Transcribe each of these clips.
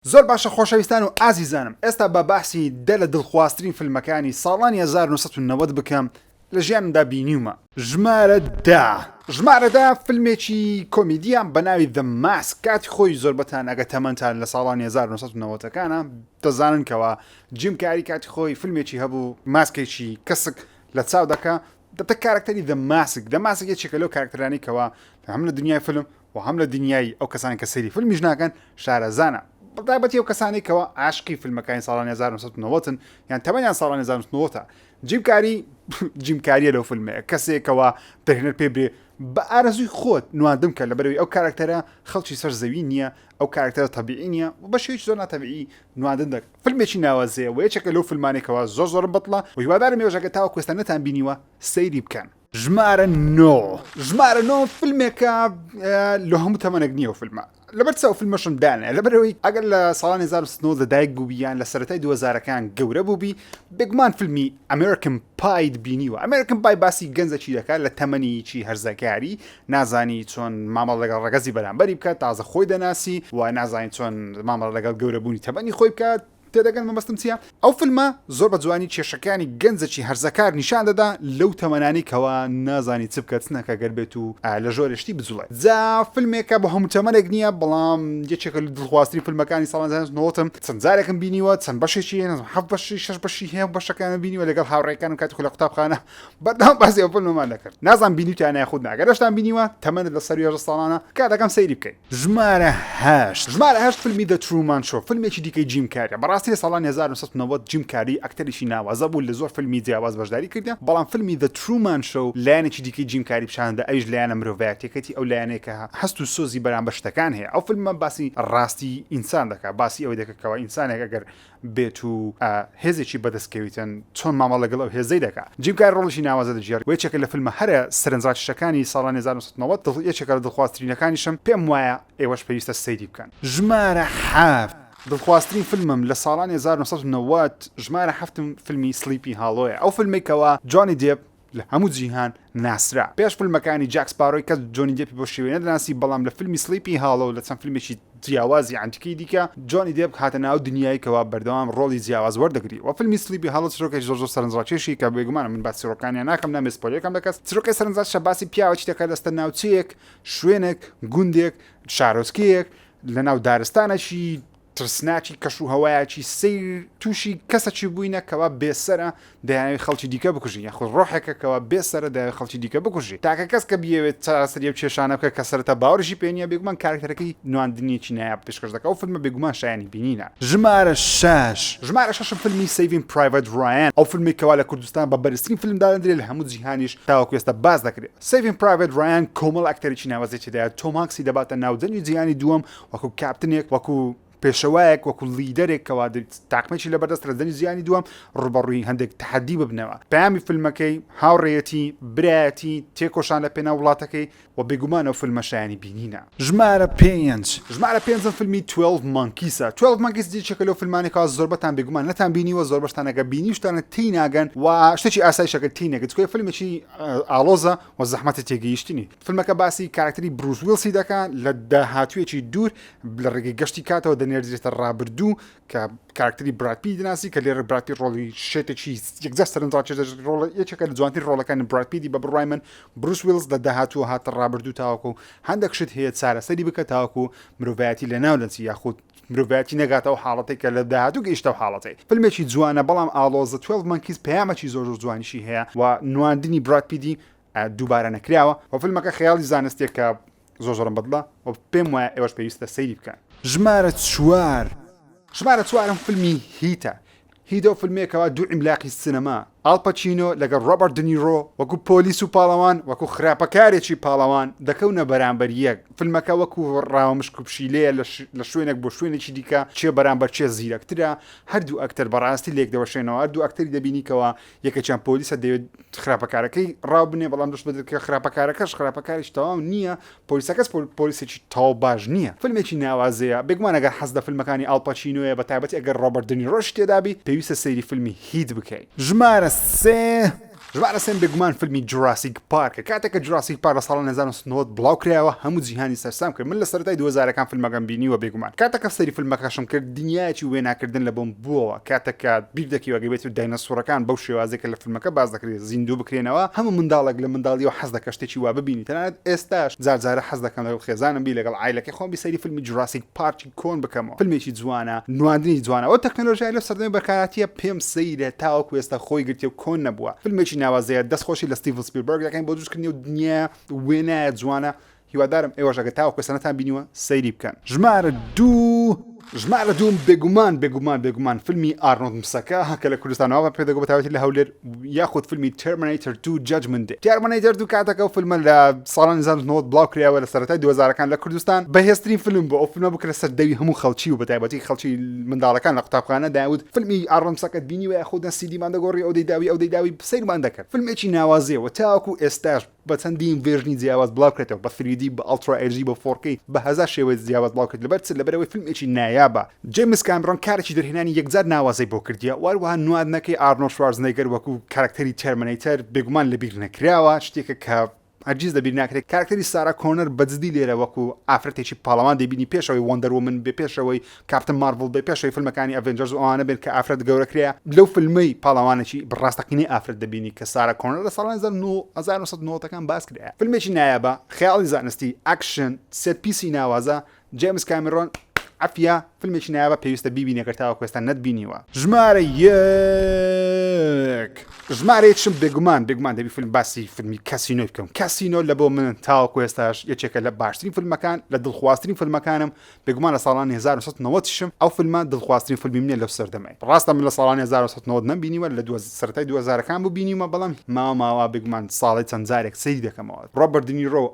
زۆر باشە خۆشەویستان و ئازیزانم ئێستا با باسی دە لە دڵخوازترین فلمەکانی ساڵانی هەزار و نۆ سەد و نەوەد بکەم لە ژیانمدا بینیومە. ژمارە دە. ژمارە دە فلمێکی کۆمیدیە بە ناوی The Mask کاتی خۆی زۆربەتان ئەگە تەمەنتان لە ساڵانی هەزار و نۆ سەد و نەوەد ەکانە دەزانن کەوا جیم کاری کاتی خۆی فلمێکی هەبوو ماسکێکی کەسک لە چاو دەکا دەبتە کارەکتەری The Mask The Mask یەکێکە لەو کارەکتەرانەی کەوا هەم لە دنیای فلم و هەم لە دنیای ئەو کەسانەی کە سەیری فیلمیش ناکەن شارەزانە، بەتایبەتی ئەو کەسانەی کەوا عاشقی فیلمەکانی ساڵانی هەزار و نۆ سەد و نەوەد ن یان تەمەنیان ساڵانی هەزار و نۆ سەد و نەوەد ە، جیم کاری جیم کاریە لەو فیلمەیە، کەسێک کەوا دەرهێنەر پێی برێ بە ئارەزووی خۆت نواندم کە لەبەرئەوەی ئەو کاراکتەرە خەڵکی سەر زەوی نییە، ئەو کاراکتەرە تەبیعی نییە و بە شێوەیەکی زۆر ناتەبیعی نواندن دەک، فیلمێکی ناوازەیە و یەکێکە لەو فیلمانەی کەوا زۆر زۆرم بەدڵە و هیوادارم ئێوەش ئەگەر تاوەکو ئێستا نەتانبینیوە سەیری بکەن. ژمارە نۆ ژمارە نۆ فیلمێکە لە هەموو تەمەنێک نییە و فیلمە لەبەر چاو فیلمەشم دانێ لەبەرەوەی ئەگەر لە ساڵانی 1970 لە دایک بووبییان لە سەتای دووەزارەکان گەورە بووبی بێگومان فیلمی ئەمریکن پاید بینیوە ئەمریکن پای باسی گەنجەکی دەکات لە تەمەنیی هەرزەکاری نازانی چۆن مامەڵ لەگەڵ ڕەگەزی بەرامبەری بکات تازە خۆی دەناسی و نازانی چۆن مامەڵ لەگەڵ گەورەبوونی تەمەنی خۆی بکات تێدەگەن مەبەستم چیە؟ ئەو فلمە زۆر بە جوانی کێشەکانی گەنجەکی هەرزەکار نیشان دەدا لەو تەمەنانەی کەوا نازانی چ بکە چ نەکە گەر بێت و لە ژۆرێ شتی بجوڵێ جا فلمێکە بۆ هەموو تەمەنێک نییە بەڵام یەکێکە لە دڵخوازترین فلمەکانی ساڵانی هەزار و نۆ سەد و نەوەد م چەند جارێکم بینیوە چەند بەشێکی هەیە نازانم هەفت بەشی شەش بەشی هەیە و بەشەکانم بینیوە لەگەڵ هاوڕێکانم کاتێک لە قوتابخانە بەردەوام باسی ئەو فلمەمان دەکرد نازانم بینیوتیانە یاخود نا گەر ئەشتان بینیوە تەمەنت لەسەر یازدە ساڵانە تکایە دەکەم سەیری بکەی. ژمارە هەشت ژمارە هەشت فیلمی The Truman Show فیلمێکی دیکەی جیم کاریە بەڕاستی لە ساڵانی هەزار و نۆ سەد و نەوەد جیم کاری ئەکتەرێکی ناوازە بوو لە زۆر فیلمی جیاواز بەشداری کردە بەڵام فیلمی The Truman Show لایەنێکی دیکەی جیم کاری پیشاندا ئەویش لایەنە مرۆڤایەتیەکەتی ئەو لایەنەیە کە هەست و سۆزی بەرامبەر شتەکان هەیە ئەو فیلمە باسی ڕاستی ئینسان دەکات باسی ئەوەی دەکات کەوا ئینسانێک ئەگەر بێت و هێزێکی بەدەست کەویتن چۆن مامەڵە لەگەڵ ئەو هێزەی دەکا جیم کاری ڕۆڵێکی ناوازە دەگێڕ و یەکێکە لە فیلمە هەرە سەرنجڕاکێشەکانی ساڵانی هەزار و نۆ سەد و نەوەد دڵ یەکێکە لە دڵخوازترینەکانیشم پێم وایە ئێوەش پێویستە سەیری بکەن. ژمارە حەفت. دڵخوازترین فیلمم لە ساڵانی هەزار و نۆ سەد و نەوەد ژمارە حەفتم فیلمی سڵیپی هاڵۆیە ئەو فیلمەی کەوا جۆنی دێپ لە هەموو جیهان ناسرا. پێش فیلمەکانی جاک سپارۆی کەس جۆنی دێپی بەو شێوەیە نەدەناسی، بەڵام لە فیلمی سڵیپی هاڵۆ و لە چەند فیلمێکی جیاوازی عەنتیکەی دیکە، جۆنی دێپ هاتە ناو دنیایەکەوە بەردەوام ڕۆڵی جیاواز وەردەگری و فیلمی سڵیپی هاڵۆ چرۆکێکی زۆر زۆر سەرنجڕاکێشی کە بێگومانە من باس چرۆکەکانیان ناکەم نامەوێت سپۆیلەر کەم لە کەس، چرۆکێ سەرنجڕاکێشە باسی پیاوەکی دەکات دەچتە ناوچەیەک، شوێنێک، گوندێک، شارۆچکەیەک لە ناو دارستانەکی ترسناکی کەش و هەوایەکی سەیر تووشی کەسەکی بووینە کەوا بێسەرە دەیاوێ خەڵکی دیکە بکوژی یاخود ڕۆحێکە کەوا بێسەرە دەیاوێ خەڵکی دیکە بکوژی تاکە کەس کە بیەوێت چارەسەری ئەو کێشانە بکە کە سەرەتا باوەڕیشی پێ نییە بێگومان کارەکتەرەکەی نواندنیەکی نایاب پێشکەش دەکا ئەو فیلمە بێگومان شایەنی بینینە. ژمارە شەش. ژمارە شەشم فیلمی Saving Private Ryan ئەو فیلمەی کەوا لە کوردستان بە بەرزترین فیلم دادەندرێ لە هەموو جیهانیش تاوەکو ئێستا باس دەکرێ Saving Private Ryan کۆمەڵ ئەکتەرێکی ناوەزەی تێدایە تۆم هانکسی دەباتە ناو جەنگی جیهانی دووەم وەکو کاپتنێک وەکو پێشەوایەک وەکو لیدەرێک کەوادر تاقمێکی لە بەردەست رەزەنی زیانی دووەم ڕوبەڕووی هەندێک تحدی ببنەوە پامی فیلمەکەی هاوڕێەتی برایەتی تێکۆشان لە پێنا وڵاتەکەی و بێگومانەوە فیلمە شایانی بینینە ژمارە پێنج ژمارە پێنجم فیلمی 12 مانکیسە 12 مانکیس دیچەکە لەو فیلمانێکا زۆربەتان بێگومان نەتان بینی و زۆربەشتانەکە بینیشتانە تی ناگەن و شتێکی ئاسایشەکە تی نەگەت کوێ فیلمێکی ئالۆزە و زەحمەتی تێگەیشتنی فیلمەکە باسی کارەکتەری بروس ویلسی دەکا لە داهاتوویەکی دوور لە ڕێگەی گەشتی کاتەوە دەنێردرێتە ڕابردوو کە کارکتەری براپی دناسی کە لێرە براپی ڕۆڵی شێتێکی یەکجار سەرنجڕاکێش دەژێت ڕۆڵە یەکێکە لە جوانترین ڕۆڵەکانی براپیدی بە بڕای من بروس ویلز لە داهاتووە هاتە ڕابردوو تاوەکو و هەندێک شت هەیە چارەسەری بکە تاوەکو و مرۆڤایەتی لە ناو دەچی یاخود مرۆڤایەتی نەگاتە و حاڵەتێک کە لە داهاتوو گەیشتە و حاڵەتی فیلمێکی جوانە بەڵام ئاڵۆزە 12 مەنکیز پەیامەکی زۆر زۆر جوانیشی هەیە و نواندنی برادپیدی دووبارە نەکراوە وە فلمەکە خەیاڵی زانستیەکە زۆر زۆرم بەدڵە وە پێم وایە ئێوەش پێویستە سەیری بکەن. ژمارە چوار. ژمارە چوارم فلمی هیتە هیدۆ فلمێکەوە دوو عیملاقی سینەما ئاڵ پەچینۆ لەگەڵ ڕۆبەرت دنیڕۆ وەکو پۆلیس و پاڵەوان وەکو خراپەکارێکی پاڵەوان دەکەونە بەرامبەر یەک فلمەکە وەکو ڕاوە مشک و پشیلەیە لە شوێنێک بۆ شوێنێکی دیکە کێ بەرامبەر کێ زیرەکترە هەردوو ئەکتەر بەڕاستی لێکدەوەشێنەوە هەردوو ئەکتەری دەبینی کەوا یەکێکیان پۆلیسە دەوێت خراپەکارەکەی ڕاوبنێ بەڵام دەست بەدرکە خراپەکارەکەش خراپەکاریش تەواو نییە پۆلیسەکەس پۆلیسێکی تاو باش نییە فیلمێکی ناوازەیە بێگومانەگەر حەز لە فیلمەکانی ئاڵپەچینوەیە بە تابەتی ئەگەر ڕۆبەردنی ڕۆژ تێدابی پێویستە سەیری فیلمی هیت بکەیت ژمارە سێ ژمارە سێم بێگومان فیلمی جوراسیک پارکە کاتێکە جوراسیک پارک لە ساڵی 1990 بڵاو کرایەوە هەموو جیهانی سەرسام کرد من لە سەرەتای دوو هەزارەکان فلمەکەم بینیوە بێگومان کاتەکە سەیری فلمەکەشم کرد دنیایەکی وێناکردن لە بۆم بووەوە کاتەکە بیر دەکەوێت گەر بێتو داینەسوڕەکان بەو شێوازەی کە لە فلمەکە باس دەکرێت زیندوو بکرێنەوە هەموو منداڵێک لە منداڵیەوە حەز دەکات شتێکی وا ببینی تەنانەت ئێستاش جار جارە حەز دەکەم لەگەڵ خێزانم بیر لەگەڵ عایلەکەی خۆم بیر سەیری فلمی جوراسیک پارک کۆن بکەمەوە فلمێکی جوانە نواندنی جوانە ئەو تەکنەلۆژیای لە سەردەمی بەرکاراتیە پێم سەیرە تاوەکو ئێستا خۆی گرتێ و کۆن نەبووە فلمێکی ناوازەیە دەست خۆشی لە ستیڤن سپیلبەرگ دەکەین بۆ دروستکردنی و دنیا وێنایە جوانە هیوادارم ئێوەش ئەگە تاوەکو ئێستا نەتان بینیوە سەیری بکەن ژمارە دوو ژمارە دووم بێگومان بێگومان بێگومان فلمی ئارنۆڵد مسەکە کە لە کوردستانەوە پێدەگۆ بە تایبەتی لە هەولێر یاخود فیلمی تێرمنەیتر دوو جەجمن دێ تێرمنەیتر دوو کاتەکە و فیلمە لە ساڵانی زانستنەوەت بڵاو کراوە لە سەرەتای دوزارەکان لە کوردستان بەهێزترین فیلم بۆ ئەو فیلمە بکرە سەر دەوی هەموو خەڵکی و بەتایبەتی خەڵکی منداڵەکان لە قوتابخانە داود فیلمی ئاڕمسەکەت بینی وە خودە سیدیمان دەگۆڕی ئەو دەیداوی ئەو دەیداوی سەیرمان دەکرد فیلمێکی ناوازەیەوە تاوەکو ئێستاش بە چەندین ڤێرژنی جیاواز بڵاوکرێتەوە بە سریدی بە ئەڵترا ئێجدی بە فۆڕکەی بە هەزار شێوەی جیاواز بڵاوکرێت لەبەر چ لەبەرئەوەی فیلمێکی نایابە جەیمس کامرۆن کارێکی دەرهێنانی یەکجار ناوازەی بۆ کردیە و هەروەها نواندنەکەی ئارنۆڵد شوارزنێگەر وەکو کارەکتەری تێرمنەیتەر بێگومان لەبیر نەکراوە شتێکە کە هەرگیز لەبیر ناکرێت کارەکتەری سارا کۆنەر بەجدی لێرە وەکو ئافرەتێکی پاڵەوان دەیبینی پێش ئەوەی وەندەر وۆمن بێ پێش ئەوەی کاپتن مارڤڵ بێ پێشەوی فلمەکانی ئەڤێنجەرز و ئەوانە بێت کە ئافرەت گەورەکرێە لەو فلمەی پاڵەوانێکی بڕاستەقینەی ئافرەت دەبینی کە سارا کۆنە لە ساڵانی 1990ەکان باس کرێە فلمێکی نایابە خەیاڵی زانستی ئاکشن سێت پیسی ناوازە جێمس کامیرۆن عفیە فلمێکی نایابە پێویستە بیبینە گەرتاوە کوێستان نەتبینیوە ژمارە یەک ژمارەیەکشم بێگومان بێگومان دەبی فیلم باسی فیلمی کەسینۆی بکەم کەسینۆ لە بۆ من تاوەکو ئێستاش یەکێکە لە باشترین فیلمەکان لە دڵخوازترین فیلمەکانم بێگومان لە ساڵانی هەزار و نۆ سەد و نەوەد شم ئەو فلمە دڵخوازترین فلمیم نیە لەو سەردەمەی ڕاستە من لە ساڵانی هەزار و نۆ سەد و نەوەد نەم بینیوە لە دوە سەرەتای دوە زارەکان بوو بینیومە بەڵام ماوە ماوە بێگومان ساڵەی چەند جارێک سەیری دەکەمەوە ڕۆبەرت دنیرۆ و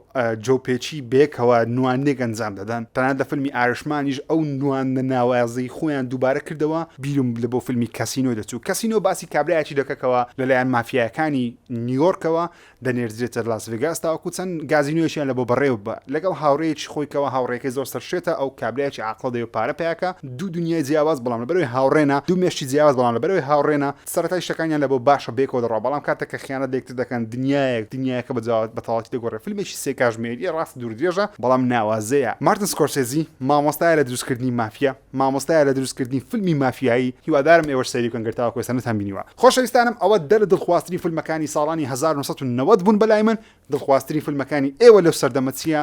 جۆو پێچی بەیەکەوە نواندنێک ئەنجام دەدەن تەنانەت لە فلمی ئارشمانیش ئەو نواندنە ناوازەی خۆیان دووبارە کردەوە بیرم لە بۆ فلمی کەسینۆ دەچوو کەسینۆ باسی کابرایەکی دەکە کەوا لەلایەن مافیایەکانی نیویۆرکەوە دەنێردرێتە لاس ڤێگاس تاوەکو چەند گازینۆیەکیان لە بۆ بەڕێوە بە لەگەڵ هاوڕێیەکی خۆی کەەوە هاوڕێکەی زۆر سەرشێتە ئەو کابراایکی عقڵە دەوێ پارە پیاکە دوو دنیای جیاواز بەڵام لە بەرەوەی هاوڕێنە دوو مێشتی جیاواز بەڵام لە بەرەوەی هاوڕێنە سەرەتای شتەکانیان لە بۆ باشە بێکەوە دەڕوا بەڵام کاتێک کە خیانەت لێکتر دەکەن دنیایەک دنیایەکە بەجاوات بە تەواوەتی دەگۆڕێ فیلمێکی سێ کاژمێریە ڕاست دوور درێژە بەڵام ناوازەیە مارتن سکۆرسێزی مامۆستایە لە دروستکردنی مافیا مامۆستایە لە دروست کردنی فلمی مافیایی هیوادارم ئێوەش سەیری بکەن گەر تاوەکو ئێستا نەتان بینیوە خۆشەویستانم ئەوە دە لە دڵخوازترین فلمەکانی ساڵانی هەزار و نۆ سەد و نەوەد بوون بەلای من دڵخوازترین فلمەکانی ئێوە لەو سەردەمە چیە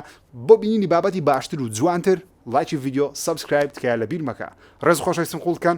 بۆ بینینی بابەتی باشتر و جوانتر لایکی ڤیدیۆ سەبسکرایب تکایە لە بیر مەکە ڕێز خۆشەویستم قوڵ کەن